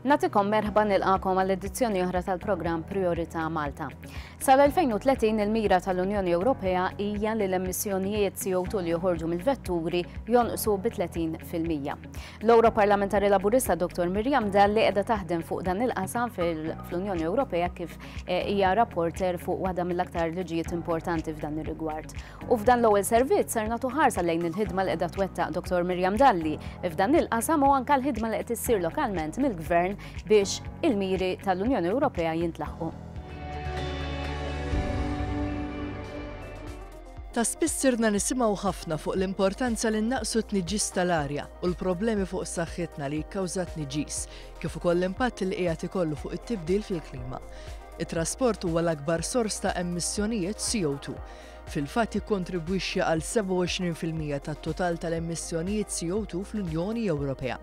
Natikom merħba nilqakom għall-edizzjoni oħra tal-programm Priorità Malta. Sal-2030 il-mira tal-Unjoni Ewropea hija li l-emissjonijiet CO2 li joħorġu mill-vetturi jonqsu bi 30 fil-mija. L-Ewroparlamentari Laburista Dottor Miriam Dalli qiegħda taħdem fuq dan il-qasam fl-Unjoni Ewropea kif eh, hija rapporter fuq waħda mill-aktar liġijiet importanti f'dan ir-rigward. U f'dan l-ewwel servizz ser nagħtu ħarsa lejn il-ħidma li qiegħda twettaq Dottor Miriam Dalli f'dan il-qasam u anke l-ħidma li qed issir lokalment mill-Gvern biex il-miri tal-Unjoni Ewropea jintlaħqu. Ta' spiss sirna nisimgħu ħafna fuq l-importanza li nnaqqsu t-tniġġis tal-arja u l-problemi fuq saħħitna li jikkawża t-tniġġis, kif ukoll l-impatt li qiegħed ikollu fuq it-tibdil fil-klima. It-trasport huwa l-akbar sors ta' emissjonijiet CO2. Fil-fatt jikkontribwixxi għal 27 fil-mija tat-total tal-emissjonijiet CO2 fl-Unjoni Ewropea.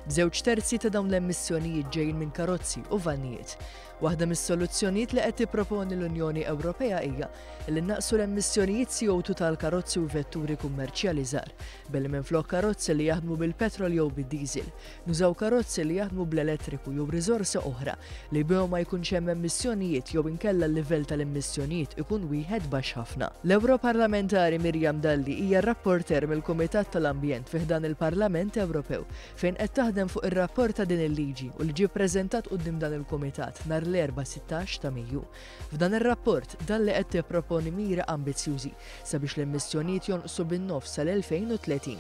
Żewġ terzi ta' dawn l-emissjonijiet ġejjin minn karozzi u vannijiet. Waħda mis-soluzzjonijiet li qed tipproponi l-Unjoni Ewropea hija li nnaqqsu l-emissjonijiet CO2 tal-karozzi u vetturi kummerċjali żgħar, billi minflok karozzi li jaħdmu bil-petrol jew bid-diesel, nużaw karozzi li jaħdmu bl-elettriku jew riżorsa oħra li bihom ma jkunx hemm emissjonijiet jew inkella l-livell tal-emissjonijiet ikun wieħed baxx ħafna. L-Ewroparlamentari Miriam Dalli hija r-rapporteur mill-Kumitat tal-Ambjent fi ħdan il-Parlament Ewropew fejn qed taħdem fuq ir-rapport ta' din il-liġi u li ġie ppreżentat quddiem dan il-kumitat nhar l-Erbgħa 16 ta' Mejju. F'dan ir-rapport, dalli qed tipproponi miri ambizzjużi sabiex l-emissjonijiet jonqsu bin-nofs sal-2030.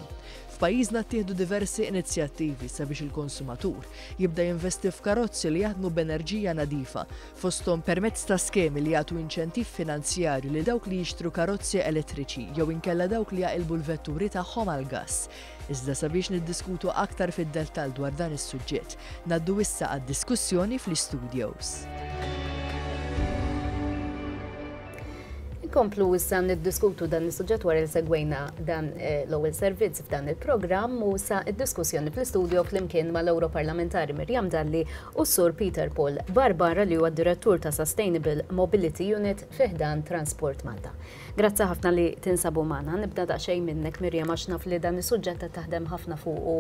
F'pajjiżna ttieħdu diversi inizjattivi sabiex il-konsumatur jibda jinvesti f'karozzi li jaħdmu b'enerġija nadifa, fosthom permezz ta' skemi li jagħtu inċentiv finanzjarju lil dawk li jixtru karozzi elettriċi jew inkella dawk li jaqilbu l-vetturi tagħhom għall-gass. Iżda sabiex niddiskutu aktar fid-dettall dwar dan is-suġġett, ngħaddu issa għad-diskussjoni fl-istudios. Inkomplu issa niddiskutu dan is-suġġett wara li segwejna dan eh, l-ewwel servizz f'dan il-programm u sa id-diskussjoni fl-istudio flimkien mal-Europarlamentari Mirjam Dalli u Sur Peter Paul Barbara li huwa direttur ta' Sustainable Mobility Unit fiħdan Transport Malta. Grazzi ħafna li tinsabu magħna. Nibda daqsxejn minnek Miriam għax naf li dan is-suġġett qed taħdem ħafna fuqu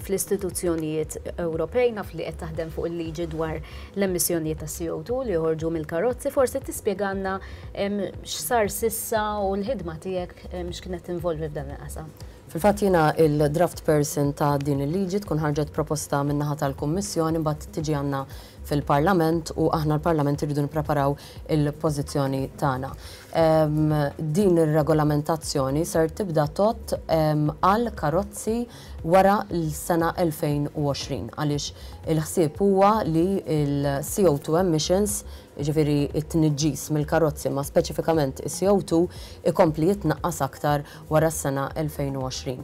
fl-istituzzjonijiet Ewropej, naf li qed taħdem fuq il-liġi dwar l-emissjonijiet ta' CO2 li joħorġu mill-karozzi, forsi tispjegalna x'sar s'issa u l-ħidma tiegħek x'kienet tinvolvi f'dan il-qasam. Fil-fatt jiena l-draft person ta' din il-liġi, tkun ħarġet proposta min-naħa tal-Kummissjoni mbagħad tiġi għandna fil-Parlament u aħna l-Parlament irridu nippreparaw il-pożizzjoni tagħna. Din ir-regolamentazzjoni ser tibda tott għal karozzi wara l-sena 2020 għaliex il-ħsieb huwa li l-CO2 emissions, jiġifieri t-tniġġis mill-karozzi ma speċifikament is-CO2, ikompli jitnaqqas aktar wara s-sena 2020.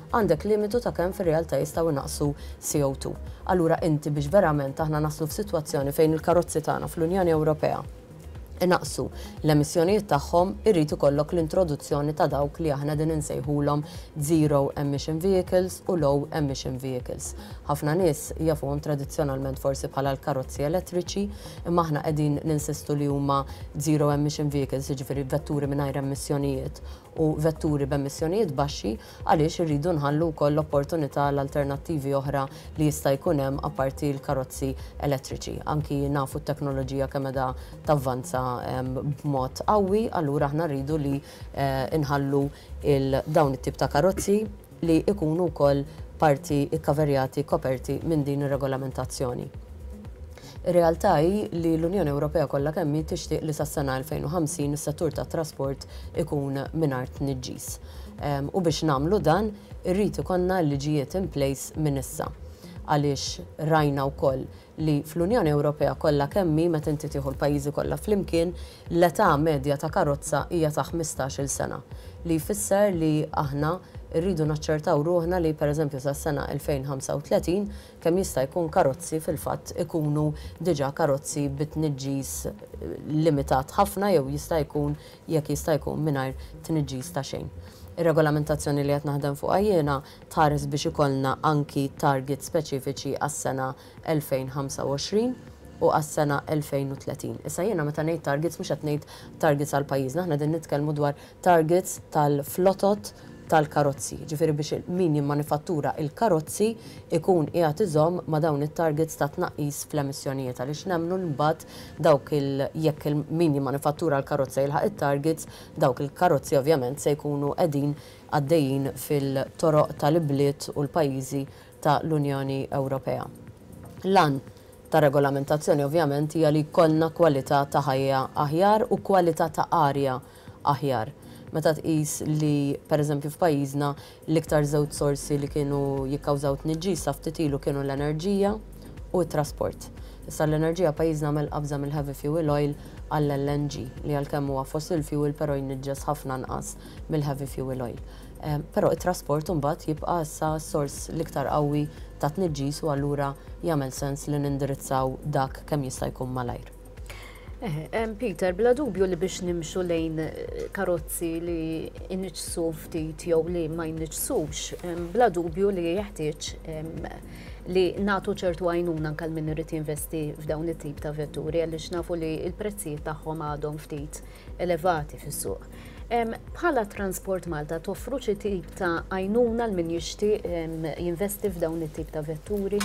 għandek limitu ta' kemm fir-realtà jistgħu jnaqqsu CO2. Allura inti biex verament aħna naslu f'sitwazzjoni fejn il-karozzi tagħna fl-Unjoni Ewropea inaqqsu l-emissjonijiet tagħhom irid ikollok l-introduzzjoni ta' dawk li aħna qegħdin insejħulhom zero emission vehicles u low emission vehicles. Ħafna nies jafuhom tradizzjonalment forsi bħala l-karozzi elettriċi imma aħna qegħdin ninsistu li huma zero emission vehicles jiġifieri vetturi mingħajr emmissjonijiet u vetturi b'emissjonijiet baxxi għaliex irridu nħallu wkoll l-opportunità għal alternattivi oħra li jista' jkun hemm apparti l-karozzi elettriċi. Anki nafu t-teknoloġija kemm qiegħda tavvanza b'mod qawwi, allura aħna rridu li nħallu dawn it-tip ta' karozzi, li jkunu wkoll parti kkaverjati, koperti, minn din ir-regolamentazzjoni. Ir-realtà hi li l-Unjoni Ewropea kollha kemm hi tixtieq li sas-sena 2050 is-settur tat-trasport ikun mingħajr tniġġis. U biex nagħmlu dan, irrid ikollna l-liġijiet in place minn issa. Għaliex rajna wkoll li fl-Unjoni Ewropea kollha kemm hi, meta inti tieħu l-pajjiżi kollha flimkien, l-età medja ta' karozza hija ta' ħmistax-il sena, li jfisser li aħna rridu naċċertaw ruħna li, pereżempju, sas-sena 2035 kemm jista' jkun karozzi fil-fatt ikunu diġà karozzi bi tniġġis limitat ħafna jew jista' jkun, jekk jista' jkun, mingħajr tniġġis ta' xejn. Ir-regolamentazzjoni li qed naħdem fuqha jiena, Tħares biex ikollna anki targets speċifiċi għas-sena 2025 u għas-sena 2030. Issa jiena meta ngħid targets mhux qed ngħid targets għal pajjiżna, aħna qegħdin nitkellmu dwar targets tal-flotot tal-karozzi, jiġifieri biex min jimmanifattura l-karozzi jkun qiegħed iżomm ma' dawn it-targets ta' tnaqqis fl-emissjonijiet għaliex nemmnu li mbagħad dawk il jekk il min jimmanifattura l-karozza jilħaq it-targets, dawk il-karozzi ovvjament se jkunu qegħdin għaddejjin fil-toroq tal-ibliet u l-pajjiżi ta' l-Unjoni Ewropea. L-għan tar-regolamentazzjoni ovvjament hija li jkollna kwalità ta' ħajja aħjar u kwalità ta' arja aħjar. Meta tqis li, per eżempju f'pajjiżna, l-iktar żewġ sorsi li kienu jikkawżaw tniġġis sa ftit ilu kienu l-enerġija u t-trasport. Issa l-enerġija pajjiżna għamel qabża mill-heavy fuel oil għall-LNG li għalkemm huwa fossil fuel però jniġġes ħafna nqas mill-heavy fuel oil. Però it-trasport imbagħad jibqa' issa s-sors l-iktar qawwi ta' tniġġis u allura jagħmel sens li nindirizzaw dak kemm jista' jkun malajr. Peter, bla dubju li biex nimxu lejn karozzi li jniġġsu ftit jew li ma jniġġsux, bla dubju li jeħtieġ li nagħtu ċertu għajnuna anke minn irid jinvesti f'dawn it-tip ta' vetturi għaliex nafu li l-prezzijiet tagħhom għadhom ftit elevati fis-suq. Bħala Transport Malta toffru xi tip ta' għajnuna l min jixtieq jinvesti f'dawn it-tip ta' vetturi?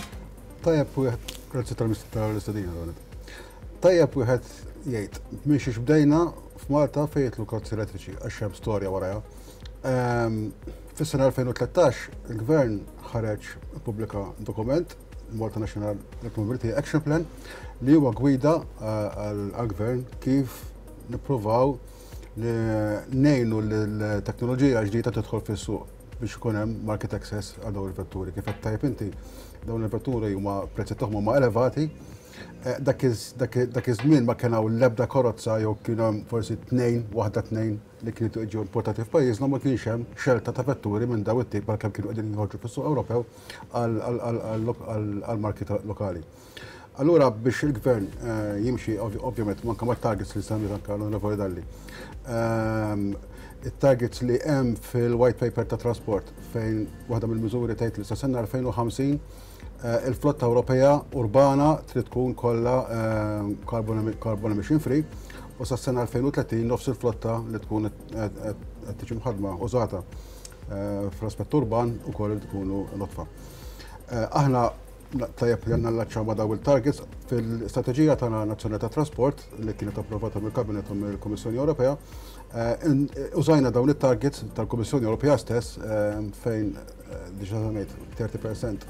Tajjeb wieħed, grazzi tal-istadina dawnet. Tajjeb wieħed jgħid, minn xiex bdejna f'Malta fejn jitlu karozzi elettriċi għax hemm storja warajha. Ehm, fis-sena 2013 il-Gvern ħareġ pubblika dokument Malta National Mobility Action Plan li huwa gwida għal-gvern kif nippruvaw nejnu l-teknoloġija ġdida tidħol fis-suq biex ikun hemm market access għal dawn il-vetturi. Kif qed tajb inti, dawn il-vetturi huma prezzi tagħhom huma elevati. Eh, dak iż-żmien ma kien hawn l-ebda korozza jew kien hemm forsi tnejn, waħda tnejn li kienu qed jiġu importati f'pajjiżna ma kienx hemm xelta ta' vetturi minn daw it-tip għalkemm kienu qegħdin jinħorġu fis-suq Ewropew għall-marki lokali. Allura biex il-Gvern jimxi ovvjament anke mat-targets li semmiet anke l-Onorevoli Dalli, it-targets li hemm fil-White Paper tat-Trasport fejn waħda mill-miżuri tgħid li sa sena 2050 Eh, il-flotta Ewropea urbana trid tkun kollha eh, carbon emission free u sa sena 2030 nofs il-flotta li tkun qed tiġi mħadma użata eh, fl-aspett urban ukoll li tkunu notfa. Aħna tajjeb li nallaċċaw ma' daw il-targets fil-strateġija tagħna nazzjonali ta' trasport li kienet approvata mill-Kabinet u mill-Kummissjoni Ewropea. Użajna dawn it-targets tal-Kummissjoni Ewropea stess fejn diġa għanajt 30%,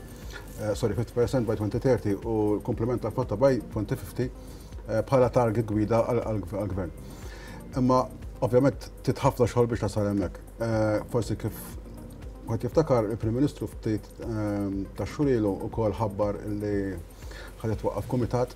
eh, sorry, 50% by 2030 u l-komplement ta' flotta by 2050 eh, bħala target gwida għal-gvern. Imma ovvjament titħafna xogħol biex nasal hemmhekk. Eh, forsi kif għat jiftakar il-Prim Ministru ftit ta' xurilu u kol ħabbar li ħadet waqaf komitat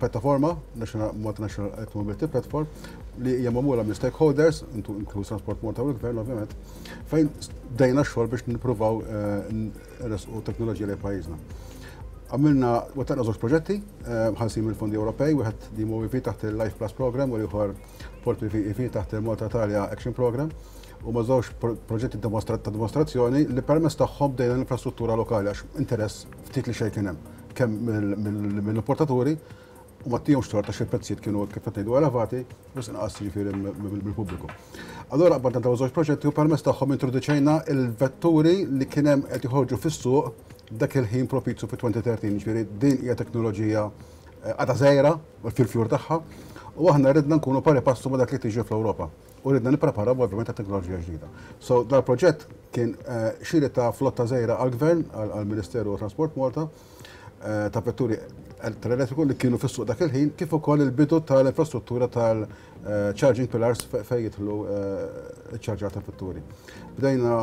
pjattaforma, Multinational Electric Mobility Platform, li hija magħmula minn stakeholders, inkluż Transport Malta u l-Gvern ovvjament, fejn dejna xogħol biex nippruvaw eh, nresqu teknoloġija li pajjiżna. Għamilna u taqna żewġ proġetti, eh, ħalsin mill-Fondi Ewropej, wieħed li MOVP e taħt il-Life Plus Program u l-ieħor Port PVP e e taħt il-Malta Italia Action Program u ma żewġ proġetti ta' dimostrazzjoni li permess tagħhom dejna l-infrastruttura lokali għax interess ftit li xejn kien hemm. kemm mill-importaturi u ma tijomx tor ta' xil-prezzijiet kienu kif għatnidu elevati, bus inqas ġifiri mill-pubbliku. Allora, għabba ta' żewġ proġetti u permess tagħhom introduċejna il-vetturi li kienem qed joħorġu fis-suq dak il-ħin propizju fi 2013, ġifiri din hija teknoloġija eh, għada zejra fil-fjur tagħha u aħna ridna nkunu pari passu ma dak li tiġi fl-Ewropa. u ridna nippreparaw ovvjament għat teknoloġija ġdida. So dal proġett kien eh, xiri ta' flotta żejra għall-Gvern, għall-Ministeru ta' Transport Malta, eh, ta' vetturi tal-elettriku li kienu fis-suq dak il-ħin, kif ukoll il-bidu tal-infrastruttura tal-charging eh, pillars fejn jidħlu ċ-ċarġar ta' vetturi. Bdejna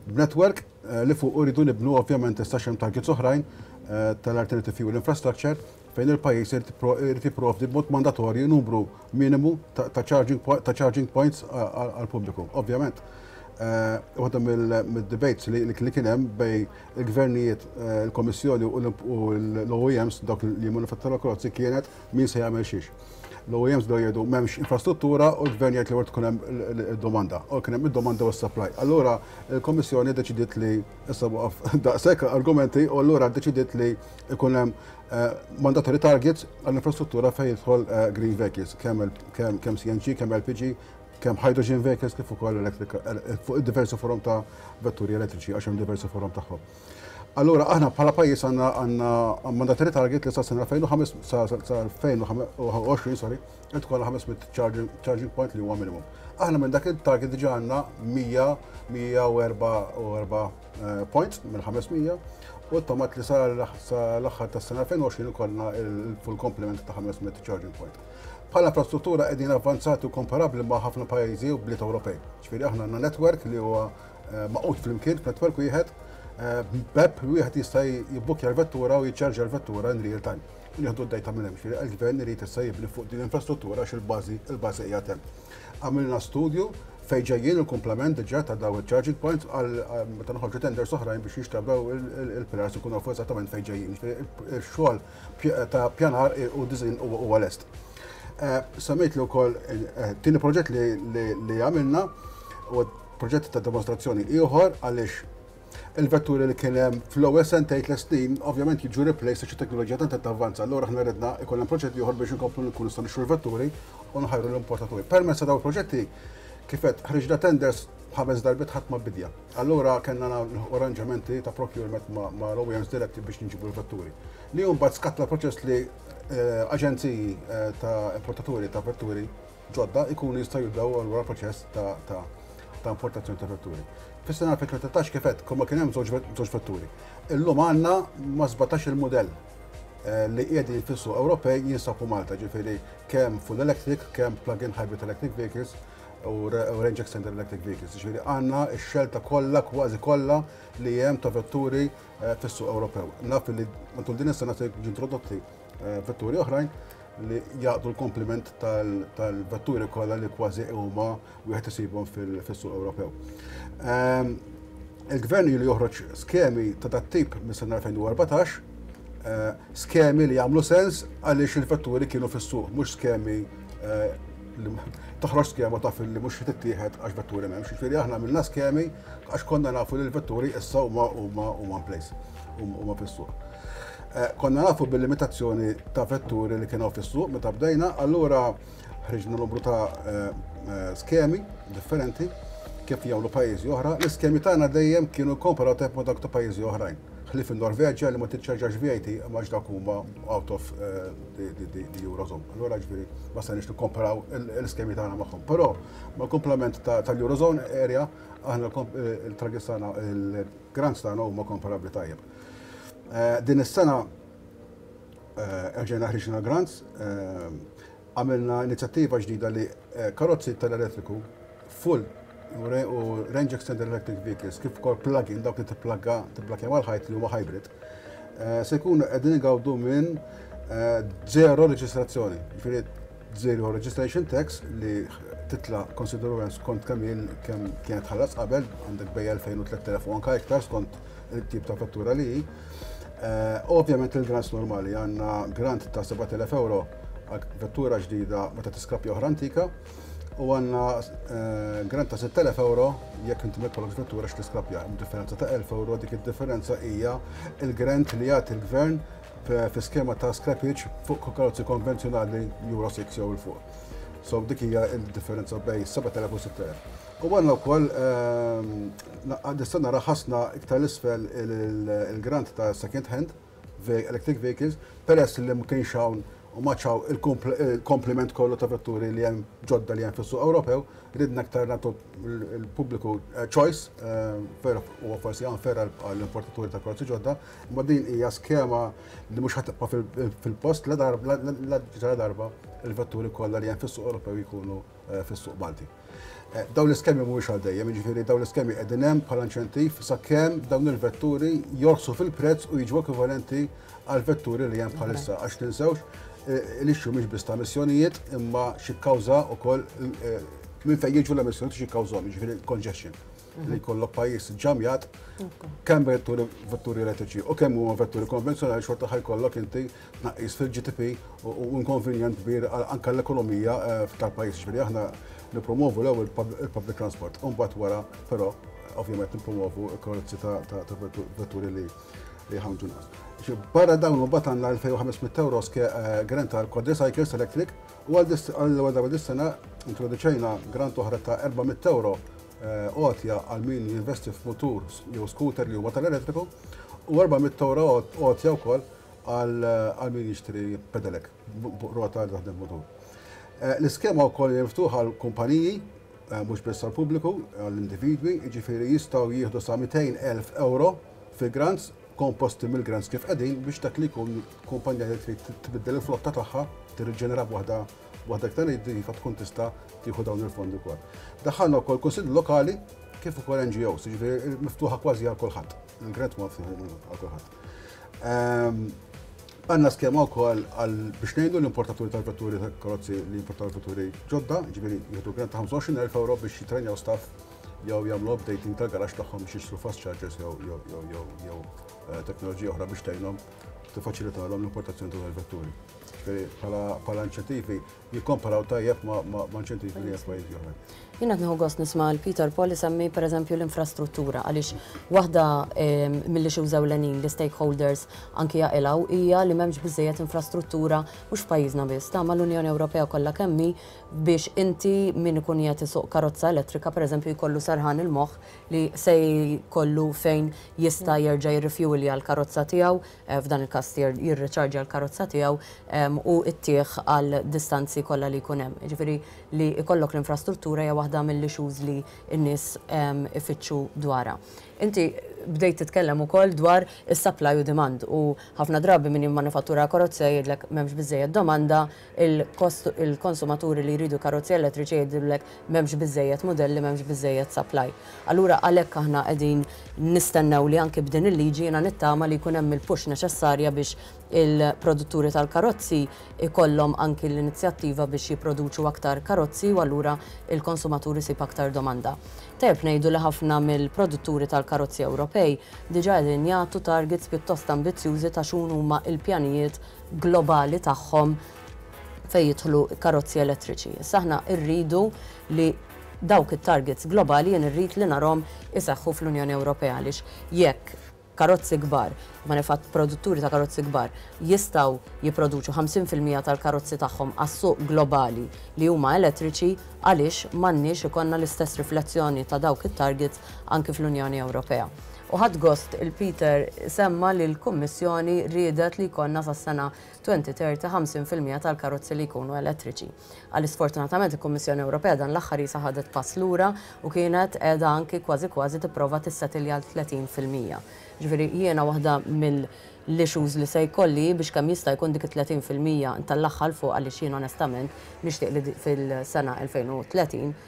b'network li fuq uridu nibnu ovvjament istaxem targets oħrajn tal-alternative fuel infrastructure fejn il-pajjiż irid jipprovdi b'mod mandatorju numru minimu ta' charging points għall-pubbliku. Ovvjament, waħda mid-debates li kien hemm bejn il-gvernijiet, il-Kummissjoni u l-OEMs, dawk li jimmanifatturaw il-karozzi, kienet min se jagħmel xiex. L-OEMs bdew jgħidu m'hemmx infrastruttura u l-gvern jgħid li wara tkun hemm id-domanda. U kien hemm id-domanda u s-supply. Allura l-Kummissjoni ddeċidiet li issa waqaf daqshekk argumenti u allura ddeċidiet li ikun hemm eh, mandatory targets għall-infrastruttura fejn jidħol eh, green vehicles, kemm CNG, kemm LPG, kemm hydrogen vehicles kif ukoll eh, fuq diversi forum ta' vetturi elettriċi għax hemm diversi forum tagħhom. Allura aħna bħala pajjiż għandna għandna mandatory target li sa sena 2025 sa 2020 sorry, qed tkollha 500 charging point li huwa minimum. Aħna minn dak il-target diġà għandna 100 144 eh, points mill-500 u t-tomat li sa l-aħħar tas sena 2020 ikollna il-full complement ta' 500 charging point. Bħala infrastruttura qegħdin avvanzati u komparabbli ma' ħafna pajjiżi u bliet Ewropej. Ġifieri aħna għandna netwerk li huwa eh, maqut flimkien f'netwerk wieħed eh, b'bepp wieħed jista' jibbukja l-vettura u jiċċarġa l-vettura in real time. Nieħdu d-dejta minn hemm, ġifieri l-gvern irid issa jibni fuq din l-infrastruttura għax il-bażi il-bażi hija hemm. Għamilna studju fejn ġejjin il-kumplament diġà ta' dawn iċ-charging points għal meta noħorġu tenders oħrajn biex jinxtrabew il-pilars ikunu nafu eżattament fejn ġejjin. Ix-xogħol ta' pjanar u diżin huwa lest. Eh, Semmejt li wkoll eh, tieni proġett li għamilna u proġett ta' demonstrazzjoni ieħor għaliex il-vetturi li kien hemm fl-ewwel sentejn tliet snin ovvjament jiġu replaced għax it-teknoloġija tant qed tavvanza. Allura aħna ridna ikun hemm proġett ieħor biex inkomplu nkunu nistgħu nixtru l-vetturi u nħajru l-importaturi. Permezz ta' dawn il-proġetti kif għedt ħriġna tenders ħames darbiet ħadd ma bidja. Allura kellna nilħqu arranġamenti ta' procurement mal-OEMs diretti biex nġibu l-vetturi. Li mbagħad skatta proċess li eh, aġenziji eh, ta' importaturi ta' vetturi ġodda jkunu jistgħu jibdew allura l-proċess ta' importazzjoni ta' vetturi. Fis-sena 2013 kif għedt, kull ma kien hemm żewġ vetturi. Illum għandna ma' 17 il-mudell eh, li qiegħdin fis-suq Ewropej jinsabu Malta, ġifieri kemm full electric, kemm plug-in hybrid electric vehicles u range extender electric vehicles. Ġifieri għandna x-xelta kollha kważi kollha li hemm ta' vetturi eh, fis-suq Ewropew. Naf li matul din is-sena se ġintrodotti Eh, vetturi oħrajn li jaqdu l-kompliment tal-vetturi kollha li kważi huma wieħed isibhom fis-suq Ewropew. Ehm, Il-gvern li joħroġ skemi ta' dat tip mis sena 2014, eh, skemi li jagħmlu sens għaliex il-vetturi kienu fis-suq, mhux skemi eh, toħroġ skema ta' fil-li mux tittieħed għax vetturi memx. Ġifiri aħna minna skemi għax konna nafu li l-vetturi issa huma huma huma place, huma fis-suq. Konna nafu bil-limitazzjoni ta' vetturi li kien hawn fis-suq meta bdejna, allura ħriġna numru ta' skemi differenti kif jagħmlu pajjiżi oħra. L-iskemi tagħna dejjem kienu comparative ma' dawk ta' pajjiżi oħrajn. Ħlief in-Norveġja li ma tiċċarġax VAT imma għax dawk huma out of the Eurozone. Allura ġifieri ma stajniex nikkomparaw l-iskemi tagħna magħhom. Però mal-kumplament tal-Eurozone area aħna l-targets tagħna, il-grants tagħna huma komparabbli tajjeb. Din is-sena erġajna ħriġna grants, għamilna inizjattiva ġdida li karozzi tal-elettriku full u range extended electric vehicles kif ukoll plug-in dawk li tipplagga tibblakja mal-ħajt li huma hybrid se jkunu qegħdin igawdu minn zero reġistrazzjoni. Ġifieri zero registration tax li titla' konsiderwament skont kemm kienet tħallas qabel, għandek bejja 2000 u 3000 u anke iktar skont it-tip ta' vettura li hi. Ovvjament il-grants normali għandna grant ta' 7,000 euro għal vettura ġdida meta tiskrappja oħra antika u għandna grant ta' 6,000 euro jekk inti ma jkollokx vettura x'tiskrappja. Differenza ta' 1,000 euro dik id-differenza hija il-grant li jagħti l-gvern fi skema ta' scrappage fuq karozzi konvenzjonali Euro 6 jew il fuq. So dik hija d-differenza bejn 7,000 u 6,000. U għandna wkoll Nista' nara ħassna iktar 'l isfel il-grant ta' second hand electric vehicles peress li ma kienx hawn u ma għadx hawn il-komplement kollu ta' vetturi li hemm ġodda li hemm fis-suq Ewropew, ridna iktar nagħtu l-pubbliku choice, veru huwa forsi unfair għall-importaturi ta' karozzi ġodda, imma din hija skema li mhux ħa tibqa' fil-post la darba il-vetturi kollha li hemm fis-suq Ewropew jkunu fis-suq Malti. Dawn l-iskemi mhumiex għal dejjem, jiġifieri dawn l-iskemi qegħdin hemm bħala inċentiv sakemm dawn il-vetturi jorħsu fil-prezz u jiġu ekwivalenti għall-vetturi li hemm bħalissa. Għax tinsewx, l-issue mhix biss ta' emissjonijiet imma xi kkawża wkoll minn fejn jiġu l-emissjonijiet u xi kkawżahom, jiġifieri congestion. li jkollok pajjiż ġamjat kemm vetturi vetturi elettriċi u kemm huma vetturi konvenzjonali xorta ħajkollok inti tnaqqis fil-GDP u inkonvenjent kbir anke l-ekonomija eh, tal-pajjiż. Ġifieri aħna nippromovu l-ewwel il-public transport u mbagħad wara però ovvjament nippromovu l-karozzi ta' vetturi li li ħamġu nas. Barra dawn u batan għal 2500 euro eh, grant għal quadricycles electric u għal għal dis-sena introduċejna grant oħra ta' 400 euro għotja għal min jinvesti f'mutur jew skuter li huma tal-elettriku u €400 għotja wkoll għal min jixtri pedelec fuq rota li taħdem mutur. L-iskema wkoll hija miftuħa għal kumpaniji mhux biss għal pubbliku għal individwi, jiġifieri jistgħu jieħdu sa €200,000 fi grants komposti mill-grants kif qegħdin biex dak li jkun kumpanija li trid tbiddel il-flotta tagħha, tirriġenera b'waħda Waħda iktar iva tkun tista' tieħu dawn il-fondi wkoll. Daħħalna wkoll kunsilli lokali kif ukoll NGOs, jiġifieri miftuħa kważi għal kulħadd. Il-grant ma għal kulħadd. Ehm, għanna skema u koll għal biex nejdu l-importaturi tal-vetturi tal-karozzi li importaw vetturi ġodda, ġibiri jħedu grant ta' 25.000 euro biex jitrenjaw staff jew jagħmlu updating tal-garax tagħhom biex jixtru fast chargers jew jew jew jew jew eh, teknoloġija oħra biex tgħinhom tiffaċilitalhom l-importazzjoni tal-vetturi. bħala inċentivi jikkomparaw tajjeb ma' inċentivi li pajjiżi oħra. Jien qed nieħu gost nisma' l Peter Paul isemmi pereżempju l-infrastruttura għaliex waħda ehm, milli xi użaw l-għenin li stakeholders anki jaqilgħu hija li m'hemmx biżejjed infrastruttura mhux f'pajjiżna biss ta' mal-Unjoni Ewropea kollha kemmi biex inti min ikun jagħti suq karozza elettrika pereżempju jkollu sarħan il-moħħ li se jkollu fejn jista' jerġa' jirrifjulja l-karozza tiegħu f'dan il-każ jirriċarġja l-karozza tiegħu u ttih għal distanzi kollha li jkun hemm. Jiġifieri li jkollok l-infrastruttura hija waħda mill-issues li n-nies ifittxu dwarha. Inti bdejt titkellem ukoll dwar is-supply u demand u ħafna drabi min jimmanifattura karozza jgħidlek m'hemmx biżżejjed domanda, il-konsumaturi li jridu karozzi elettriċi jgħidulek m'hemmx biżżejjed mudelli, m'hemmx biżżejjed supply. Allura għalhekk aħna qegħdin nistennew li anki b'din il-liġi jiena nittama li jkun hemm il-push neċessarja biex il-produtturi tal-karozzi jkollhom anki l-inizjattiva biex jipproduċu aktar karozzi u allura l-konsumatur isib aktar domanda. Tajjeb ngħidu li ħafna mill-produtturi tal-karozzi Ewropej diġà qegħdin jagħtu targets pjuttost ambizzjużi ta' x'hun huma l-pjanijiet globali tagħhom fejn jidħlu karozzi elettriċi. Issa aħna rridu li dawk it-targets globali jien irrid li narhom iseħħu fl-Unjoni Ewropea għaliex jekk karozzi kbar, manifatt produtturi ta' karozzi kbar jistgħu jipproduċu 50% tal-karozzi tagħhom għas-suq globali li huma elettriċi, għaliex m'għandniex ikollna l-istess riflessjoni ta' dawk it-targets anki fl-Unjoni Ewropea. U ħadd gost il-Peter semma li l-Kummissjoni riedet li jkollna sas-sena 2030 50% tal-karozzi li jkunu elettriċi. Għal sfortunatament il-Kummissjoni Ewropea dan l-aħħar jisa ħadet pass lura u kienet qiegħda anki kważi kważi tipprova tissetilja għal 30%. Ġifieri jiena waħda mill-issues li se jkolli biex kemm jista' jkun dik it-30% ntellagħha 'l fuq għaliex jien onestament nixtieq li fil-sena 2030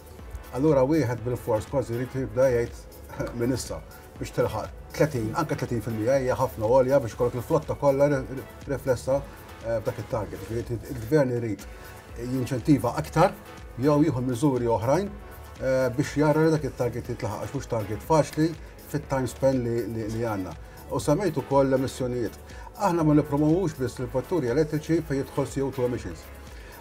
Allura wieħed bilfors kważi jrid jibda jgħid minn issa biex tilħaq 30, anke 30% hija ħafna għolja biex ikollok il-flotta kollha riflessa eh, b'dak it-target. Il-gvern irid jinċentiva aktar jew jieħu miżuri oħrajn eh, biex jara li dak it-target jitlaħaq għax mhux target faċli fit-time span li għandna. U semmejt ukoll l-emissjonijiet. Aħna ma nippromovux biss il-vetturi elettriċi fejn jidħol CO2 emissions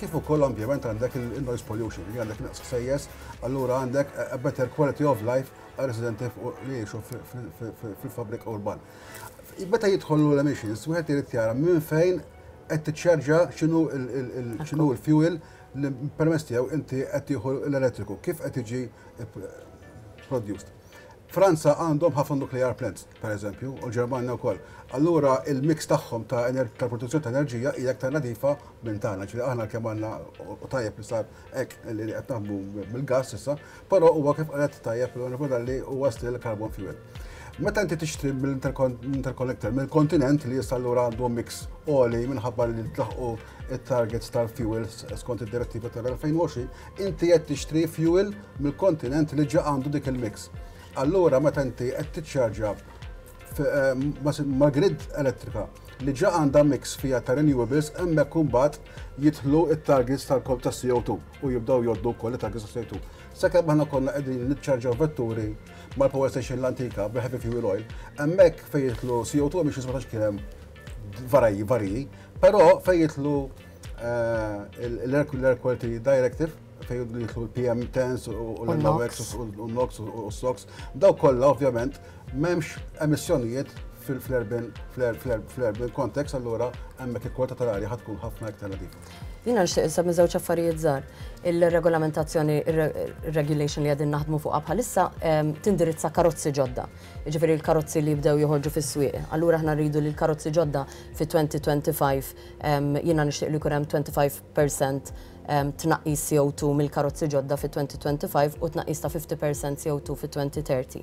kif ukoll ambjament għandek il-noise pollution, li għandek naqs ħsejjes, allura għandek a better quality of life għal residenti li jiexu fil-fabrik urban. Meta jidħollu l-emissions, wieħed irid jara minn fejn qed tiċċarġa x'inhu x'inhu l-fuel li permess tiegħu inti qed tieħu l-elettriku, kif qed jiġi produced. Franza għandhom ħafna nuclear plants. pereżempju, u l-Ġermanja wkoll, allura il-mix tagħhom ta' produzzjoni ta' enerġija hija aktar nadifa minn tagħna. Ġifieri aħna kemm għandna u tajjeb li sar hekk li qed naħdmu bil-gass issa, però huwa kif qalet tajjeb l-Onorevoli Dalli huwa still carbon fuel. Meta inti tixtri mill-interconnector, mill-kontinent li issa allura għandu mix għoli minħabba li tlaħqu it-targets tal-fuels skont id-direttiva tal-2020, inti qed tixtri fuel mill-kontinent li ġa għandu dik il-mix. Allura meta inti qed tiċċarġja mal-grid elettrika li ġa għandha mix fiha ta' renewables hemmhekk imbagħad jidħlu t-targets tal-kop ta' CO2 u jibdew jgħoddu wkoll it-targets ta' CO2. Sakemm aħna konna qegħdin niċċarġaw vetturi mal-power station l-antika bi heavy fuel oil, hemmhekk fejn jidħlu CO2 biex jisma' kien hemm varji varji, però fejn jidħlu eh, l-air quality directive fejn jidħlu l-PM tens u l-NOx u l-NOx u s-SOx, daw kollha ovvjament m'hemmx emissjonijiet fl-erben fl-erben konteks allura hemmhekk il-kwalità tal-arja ħad tkun ħafna iktar nadifa. Jina nxtieq issa minn żewġ affarijiet żgħar. Il-regolamentazzjoni, il-regulation li għadin naħdmu fuqha bħalissa ehm, tindirizza karozzi ġodda. Ġifieri l-karozzi li jibdew joħorġu fis-swieq. Allura aħna rridu li l-karozzi ġodda fi 2025 ehm, jiena nixtieq li jkun hemm 25% tnaqqis CO2 mill-karozzi ġodda fit-2025 u tnaqqis ta' 50% CO2 fit-2030.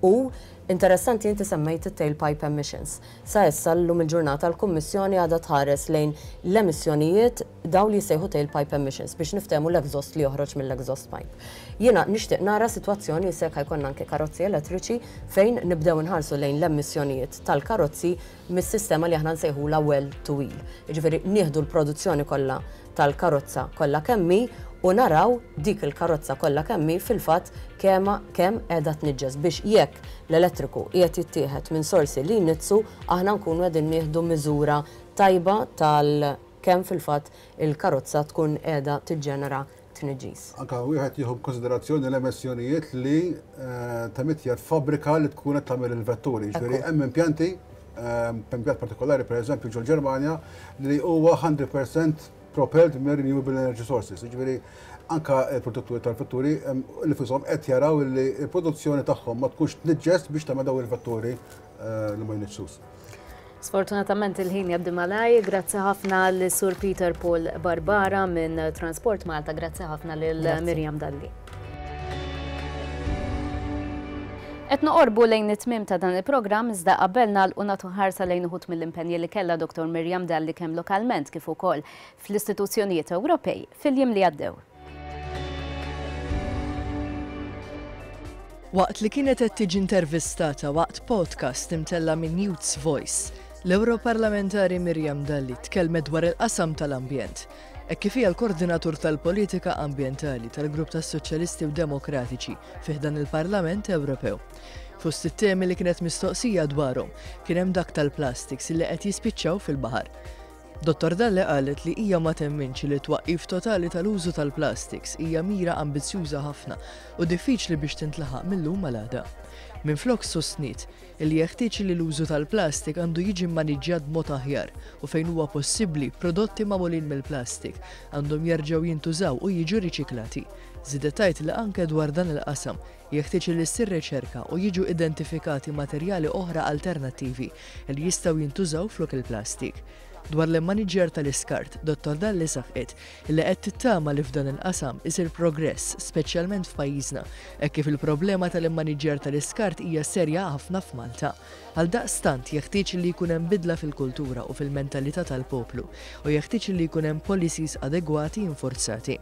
U interessanti inti semmejt it-tailpipe emissions. Sa issa llum il-ġurnata l-Kummissjoni għadha tħares lejn l-emissjonijiet dawn li jissejħu tailpipe emissions biex niftehmu l-exhaust li joħroġ mill-exhaust pipe. Jiena nixtieq nara sitwazzjoni issa jekk ħa jkollna anke karozzi elettriċi fejn nibdew inħarsu lejn l-emissjonijiet tal-karozzi mis-sistema li aħna nsejħulha well to wheel. Jiġifieri nieħdu l-produzzjoni kollha tal-karozza kollha kemm hi u naraw dik il-karozza kollha kemm hi fil-fatt kemm kemm qiegħda tniġġes biex jekk l-elettriku qiegħed jittieħed minn sorsi li jniġġsu aħna nkunu qegħdin nieħdu miżura tajba tal kemm fil-fatt il-karozza tkun qiegħda tiġġenera tniġġis. Anke wieħed jieħu b'kunsiderazzjoni l-emissjonijiet li temitjet fabbrika li tkun qed tagħmel il-vetturi. Ġifieri hemm impjanti, impjant partikolari pereżempju ġol-Ġermanja li huwa 100% propelled minn renewable energy sources. Ġifieri anke l-produtturi tal-vetturi nifisom qed jaraw li l-produzzjoni tagħhom ma tkunx tniġġes biex tagħmel dawn il-vetturi li ma jniġġsux. Sfortunatament il-ħin jaddi malaj, grazzi ħafna l sur Peter Paul Barbara minn Transport Malta, grazzi ħafna lil Miriam Dalli. Et noqorbu lejn it-tmim ta' dan il-programm iżda qabel nagħlqu nagħtu ħarsa lejn uħut mill-impenji li kellha Dr. Miriam Dalli kemm lokalment kif ukoll fl-istituzzjonijiet Ewropej fil-jiem li għaddew. Waqt li kienet qed tiġi intervistata waqt podcast imtella' minn Youth's Voice, l-Ewroparlamentari Miriam Dalli tkellmet dwar il-qasam tal-ambjent hekk kif hija l-Koordinatur tal-Politika Ambjentali tal-Grupp tas-Soċjalisti u Demokratiċi fih dan il-Parlament Ewropew. Fost it-temi li kienet mistoqsija dwarhom kien hemm dak tal-plastiks li qed jispiċċaw fil-baħar. Dottor Dalle qalet li hija ma temminx li t-twaqqif totali tal-użu tal-plastiks hija mira ambizzjuża ħafna u diffiċli biex tintlaħaq mil-lum għal għada. Minflok sostniet li jeħtieġ li l-użu tal-plastik għandu jiġi mmaniġġjat b'mod aħjar u fejn huwa possibbli prodotti magħmulin mill-plastik għandhom jerġgħu jintużaw u jiġu riċiklati. Żiedet tgħid li anke dwar dan il-qasam Jeħtieġ li ssir riċerka u jiġu identifikati materjali oħra alternattivi li jistgħu jintużaw flok il-plastik. Dwar l-immaniġġjar tal-iskart, Dottor Dalli saħqet li qed tittama li f'dan il-qasam isir progress, speċjalment f'pajjiżna, hekk kif il-problema tal-immaniġġjar tal-iskart hija serja ħafna f'Malta. Għaldaqstant, jeħtieġ li jkun hemm bidla fil-kultura u fil-mentalità tal-poplu u jeħtieġ li jkun hemm policies adegwati infurzati.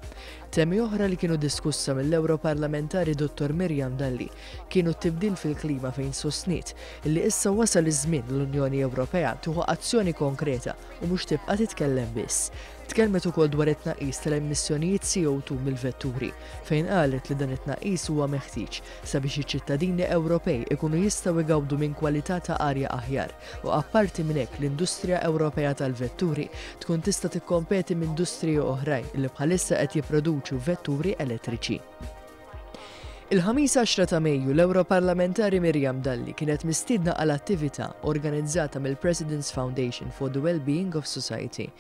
Temi oħra li kienu diskussa mill-Ewroparlamentari Dottor Miriam Dalli kienu t-tibdil fil-klima fejn sostniet li issa wasal iż-żmien li l-Unjoni Ewropea tieħu azzjoni konkreta u mhux tibqa' titkellem biss. Tkellmet ukoll dwar it-tnaqqis tal-emissjonijiet CO2 mill-vetturi fejn qalet li dan it-tnaqqis huwa meħtieġ sabiex iċ-ċittadini Ewropej ikunu jistgħu jgawdu minn kwalità ta' arja aħjar. u apparti minn hekk l-industrija Ewropea tal-vetturi tkun tista' tikkompeti m'industriji oħrajn li bħalissa qed jipproduċu vetturi elettriċi. Il-Ħamis 10 ta' Mejju l-Ewroparlamentari Miriam Dalli kienet mistiedna għal attività organizzata mill-President's Foundation for the Wellbeing of Society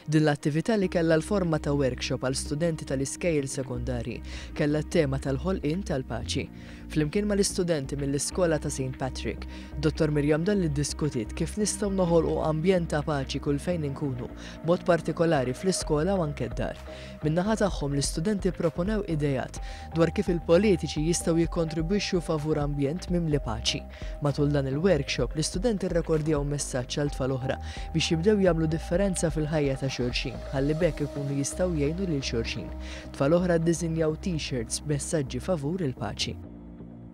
Din l-attività li kellha l-forma ta' workshop għal studenti tal-iskejjel sekondarji kellha t-tema tal-ħolqien tal-paċi. Flimkien mal-istudenti mill-Iskola ta' Saint Patrick, Dottor Miriam Dalli ddiskutiet kif nistgħu noħolqu ambjent ta' paċi kull fejn inkunu, b'mod partikolari fl-iskola u anke d-dar. Min-naħa tagħhom l-istudenti pproponew ideat dwar kif il-politiċi jistgħu jikkontribwixxu favur ambjent mimli paċi. Matul dan il-workshop, l-istudenti rrekordjaw messaġġ għal tfal oħra biex jibdew jagħmlu differenza fil-ħajja ta' xulxin, ħalli b'hekk ikunu jistgħu jgħinu lil xulxin. Tfal oħra ddisinjaw T-shirts b'messaġġi favur il-paċi.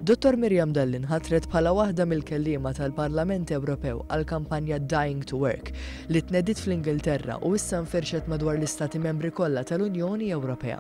Dottor Miriam Dalli nħatret bħala waħda mill-kelliema tal-Parlament Ewropew għall-kampanja Dying to Work, li tnediet fl-Ingilterra u issa nfirxet madwar l-Istati Membri kollha tal-Unjoni Ewropea.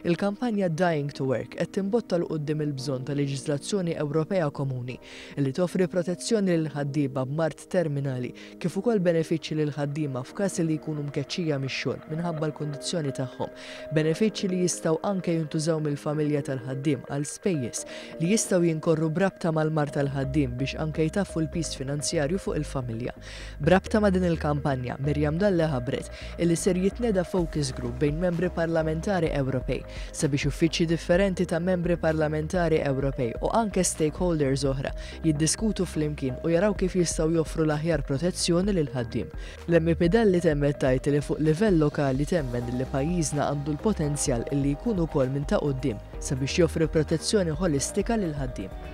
Il-kampanja Dying to Work qed timbotta 'l quddiem il-bżonn ta' leġiżlazzjoni Ewropea komuni li toffri protezzjoni lill-ħaddieba b'mard terminali kif ukoll benefiċċji lill-ħaddiema f'każ li jkunu mkeċċija mix-xogħol minħabba l-kundizzjoni tagħhom, benefiċċji li jistgħu anke jintużaw mill-familja tal-ħaddiem għal spejjeż li jistgħu jinkorru b'rabta mal-mard tal-ħaddiem biex anke jtaffu l-piż finanzjarju fuq il-familja. B'rabta ma' din il-kampanja, Miriam Dalli ħabbret illi ser jitneda focus group bejn Membri Parlamentari Ewropej sabiex uffiċċji differenti ta' Membri Parlamentari Ewropej u anke stakeholders oħra jiddiskutu flimkien u jaraw kif jistgħu joffru l-aħjar protezzjoni lill-ħaddiem. L-MEP Dalli temmet tgħid illi fuq livell lokali temmen illi pajjiżna għandu l-potenzjal illi jkun ukoll minn ta' quddiem sabiex joffri protezzjoni ħolistika lill-ħaddiem.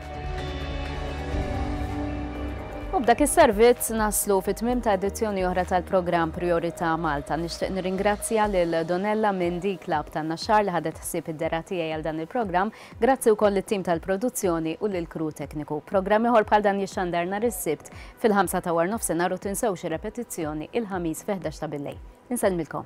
U b'dak is-servizz naslu fi tmiem ta' edizzjoni oħra tal-programm Priorità Malta. Nixtieq nirringrazzja lil Donella minn D Club tan-Naxxar li ħadet ħsieb id-dera tiegħi għal dan il-programm. Grazzi wkoll lit-tim tal-produzzjoni u lill-crew tekniku. Programm ieħor bħal dan jixxandar nhar is-Sibt fil-ħamsa ta' warnofsinhar u tinsewx ir-repetizzjoni il-Ħamis fil-ħdax ta' billejl. Insellmilkom.